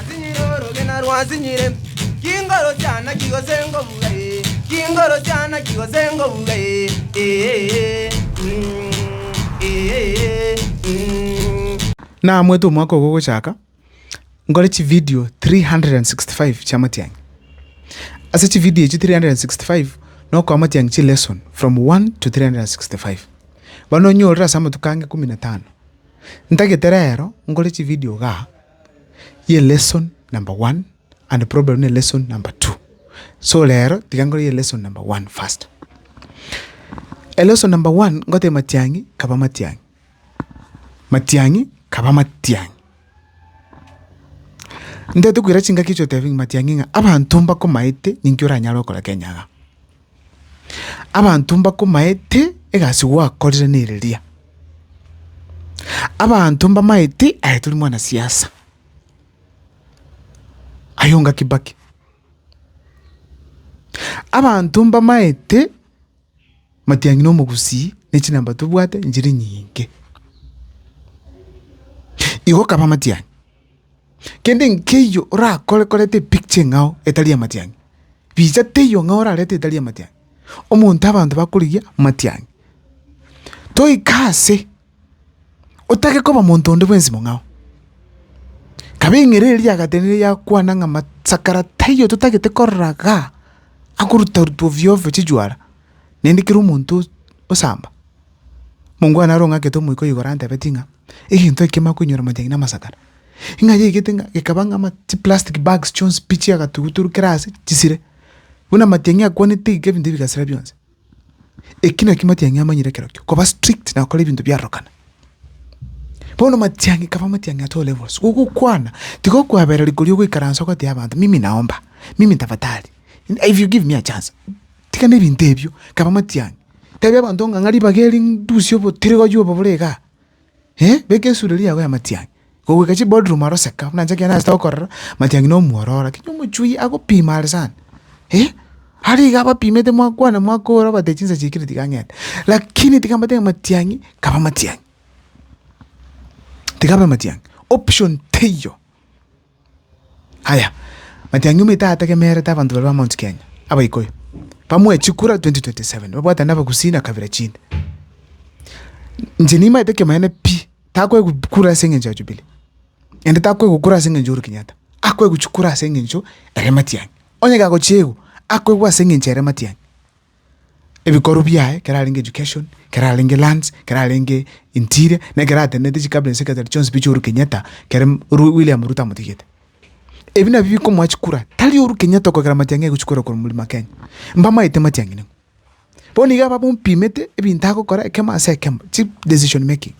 Sinyire orogena rwa sinyire, chingoro chiana chigose ngobuga ee, chingoro chiana chigose ngobuga ee, ee, mm, ee, mm. Naamwete omwaka ogo ogochaka, nkore chividio 365 chi'amatiang'i. Ase chividio echio 365 nokoa amatiang'i chilesson from 1 to 365. Bono onyorire ase amatuko ange ikomi na tano. Ntagete rero nkore chividio igaa. ye lesson number one and problem ne lesson number two. So rero tiga nkore ye lesson number one first. E lesson number one ngoteba matiang'i kaba matiang'i, matiang'i kaba matiang'i. Ntaete koira chingaki echi otebia ng'a matiang'i ng'a abanto mbakomaete ninki oranyare okora Kenya iga. Abanto mbakomaete egasi gwakorire nereria. Abanto mbamaete aye tori mwana siasa. Ayonga Kibaki. Abanto mbamaete matiangi na omogusii ne chinamba tobwate nchiri nyinge. Igo kaba matiangi. Kende nkeiyo orakore koreta epicture eng'ao etari amatiang'i, richa teiyo ng'ao orarete etari amatiang'i, omonto abanto bakorigia amatiang'i. Toika ase, otake koba monto onde bwensi mong'ao, kaba eng'ereri eria yagatenenire yakwana ng'a masakara taiyo totagete korora igaa, akorutaruta ovyo ovyo chichwara, naende kera omonto osamba. Mongwana are ong'akete omoika o igoro antebetie ng'a egento eke kemana koinyora amajani na amasakara, ng'a yaigete ng'a gekaba ng'a ama chiplastic bags chionsi pi chia agatuguturu kera ase chisire, buna amatiang'i akwanete iga ebinto ebi bigasira bionsi. Eki nakio matiang'i amanyire ekero kio, koba strict na gokora ebinto biarorokana. Bono matiang'i kaba amatiang'i at all levels, gogokwana tiga okoabereri koria ogoikaransa ogotebi abanto mimi naomba, mimi tafadhali, if you give me a chance. Tiga nebinto ebio, kaba amatiang'i, tebia abanto ng'a ng'a ribaga eri ndusie obotirigori obo bore igaa, beka esureri yago y'amatiang'i. Goika chiboardroom aro seka buna inche ekero nachete gokorera amatiang'i na omwororo, lakini omochwi agopima are sana, are iga abapimete mwakwana mwakora obate chinsa chiaikire tiga ng'ende. Lakini tiga mbwate ng'a amatiang'i, kaba amatiang'i, tiga abe amatiang'i, option teiyo. Aya, matiang'i omoito ategemerete abanto barwe ba Mount Kenya, Abaikuyu, bamoe chikura 2027, babwatane na Abagusii na kabira chinde. Inche nimaete ekioma gene pi, takoegwa kura ase eng'encho ya Jubilee, naende takoegwa kura ase eng'encho ya Uhuru Kenyatta, akoegwa chikura ase eng'encho ere matiang'i. Onye gagochiegwa, akoegwa ase eng'encho ere matiang'i. ebikorwa biaye, ekero arenge education, ekero arenge lands, ekero arenge interior, na ekero atenenete chicabinet secretary chionsi pi chiaOhuru Kenyatta kere Ru- William Ruto amotigete. Ebi nabio bikomoa chikura, tari Ohuru Kenyatta okogera matiang'i aigwe chikura korwa Mlima Kenya. Mbamaete matiang'i ning'o. Bono iga babompimete ebinto agokora ekemo ase ekemo, chi decision making.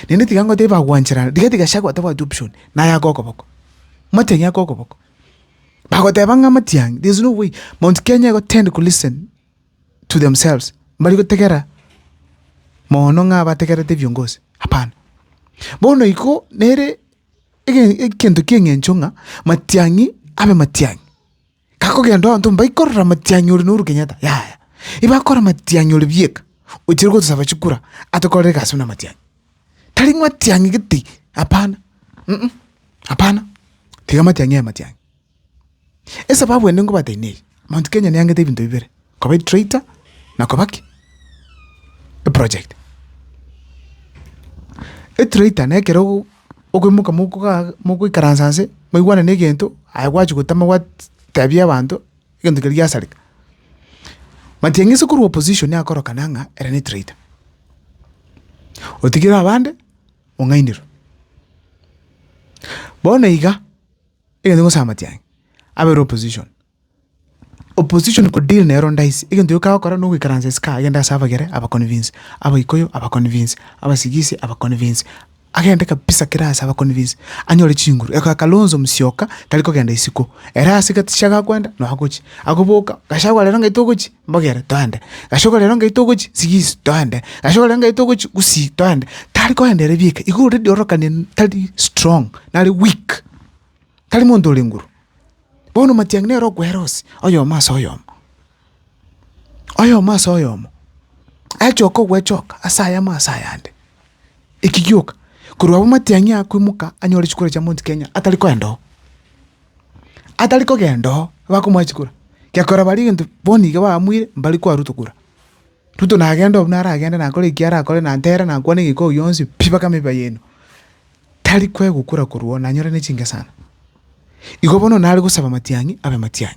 Naende tiga ngotebi bagwancherana, rigathi Gachagua tabwati option, naye ake okoboko. Matiang'i ake okoboko. bagoteba ng'a amatiangi there is no way Mount Kenya igo tend ko listen to themselves mbari gotegera moono ng'a bategerete ebiongozi hapana. Bono igo nere ege egento kia eng'encho ng'a matiang'i abe matiang'i, gakogenda abanto mbakorora matiang'i ore na Uhuru Kenyatta yaya, ebakora matiang'i ore bieka ochire gotosaba chikura atokorere egasi buna matiang'i. tari ng'a matiang'i gete, hapana, uh-uh, hapana, tiga matiang'i aye matiang'i. Esababu ende ngobatebi neye, Mount Kenya neangete ebinto bibere, koba etractor na koba ki? eproject. Etractor na ekero ogo- okoimoka mokogaa mogoikaransa nse, mwaigwana na egento, aye gwachia gotema gwat tebia abanto. egento keria giasareka. Matiang'isi korwa opposition akorokana ng'a ere ne traitor. Otigire abande ong'ainerwe. Bono iga, egento nkogosaba matiang'i, abere opposition, opposition ko deal nero ndaisi, egento gioka agokora nogoikaransa isiko agende ase abagere aba convince, abaikuyu aba convince, abasigisi aba convince. Agende kabisa kera aase abaconvince anyore chinguru. Eko ya Kalonzo Musyoka tari kogenda isiko. Ere ase gaticha gakwenda nonya gochia. Agoboka, Gachagua rero ng'ai togochia? Mbogere, toende. Gachagua rero ng'ai togochia? Sigisi, toende. Gachagua rero ng'ai togochia? Gusii, toende. Tari kogenda ere bieka. Igo already ororokane tari strong, nare weak. Tari monto ore nguru. Bono matiang'i nere okwera ose, oyomo ase oyomo. oyomo ase oyomo achoka ogwechoka ase ayamo ase ayande, eki gioka korwa abwo matiang'i akoimoka anyore chikura chia Mount Kenya atari koenda oo, atari kogenda oo bakomoa chikura, gekora baria egento bono iga bamwire mbari koa Ruto kura. Ruto nagende obuna aragende nakore eki arakore na ntere na kwane egekoo oi yonsi pi mpaka meba yaino, tari koegwa kura korwa oo nanyore ne chingesana. Igo bono nare gosaba matiang'i abe matiang'i.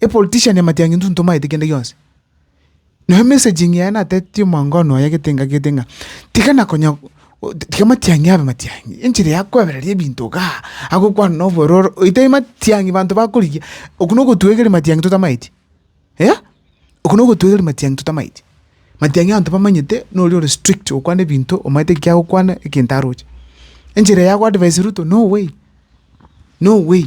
epolitician amatiangi intwe ntomaete kende gionsi. Nabo emessaging yaye natetetie omwango one oye gete ng'a gete ng'a tiga na konya tiga amatiangi abe matiangi, enchera ya koebereria ebinto igaa, agokwana na obororo oite matiangi banto bakorigia, okwo na ogotwegeria matiangi totamaeti eh, okwo na ogotwegeria matiangi totamaeti. Matiangi abanto bamanyete na oria ore strict okwana ebinto omanyete eki agokwana egento aroche. Enchera ya go advise Ruto no way, no way.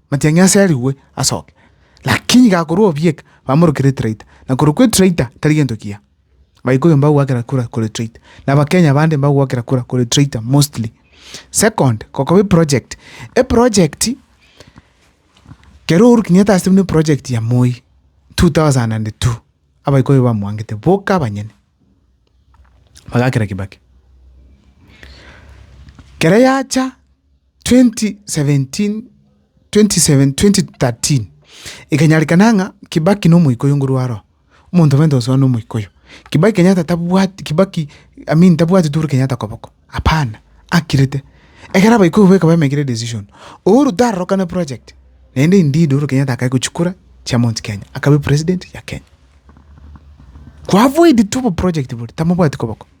Matiang'i aserigwe asoke, lakini iga akorwa obieka, bamorokere etraita, na korwa kwa etraita tari gento kiya. Abaikuyu mbagwakera kura korwa etraita, na Abakenya bande mbagwakera kura korwa etraita mostly. Second, gokoba eproject, eproject kero Uhuru Kenyatta asete buna eproject ya Moi two thousand and two, Abaikuyu bamwangete boka abanyene, bagakera Kibaki. Kere yacha. 2017/2013 Ekanyarekana ng'a Kibaki nomoika oyo nguru aro omonto obe ntosoa nomoika oyo Kibaki Kenyatta tabwati Kibaki I mean tabwati Uhuru Kenyatta koboko hapana akirete ekero abaika obo ekaba emekire decision Uhuru tarorokane project naende indeed Uhuru Kenyatta akae gochia kura chia Mount Kenya akabe president ya Kenya ko avoid tu oboproject boria tamobwati koboko.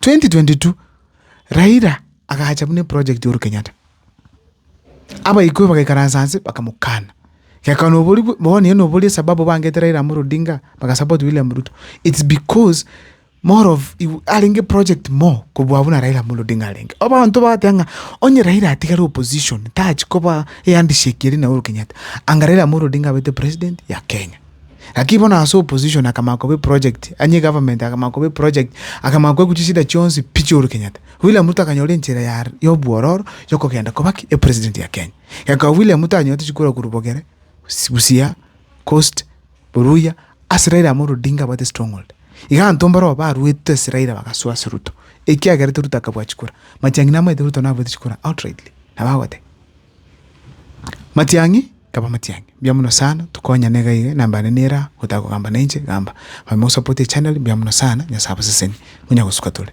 2022 Raila agacha buna eproject y'Ohuru Kenyatta, abaikoi bagaikaransa anse bakamokana, geka nobori bwe bono eye nobori esababu bangete Raila Amolo Odinga bagasupport William Ruto, it's because more of igo arenge project more kobua buna Raila Amolo Odinga arenge. Abanto bagoteeba ng'a onye Raila atigare opposition tachi koba ehandshake eria na Uhuru Kenyatta, anga Raila Amolo Odinga abete president ya Kenya. Lakini bono ase opposition akamanya koba eproject, onye egovernment akamanya koba eproject, akamanya koegwa chisida chionsi pi chia Uhuru Kenyatta. William Ruto akanyora enchera ya ya obwororo ya okogenda koba ki? Epresident ya Kenya. Ekaba William Ruto anyorete chikurwa korwa Bogere, Busi Busia, Coast, Oruya, ase Raila Amolo Odinga abwate stronghold. Iga abanto mbarobwo baruete ase Raila bagasoa ase Ruto, ekiagerete Ruto akabua chikura. Matiang'i namaete Ruto naruete chikura outrightly, nabo agoteba. Matiang'i kaba matiang'i, mbuya mono sana tokonyane iga iga, enamba yane nere aa gotaka kogamba na inche gamba. Manye mosapote echanero mbuya mono sana, Nyasae abasesenie, monyare gosuka tore.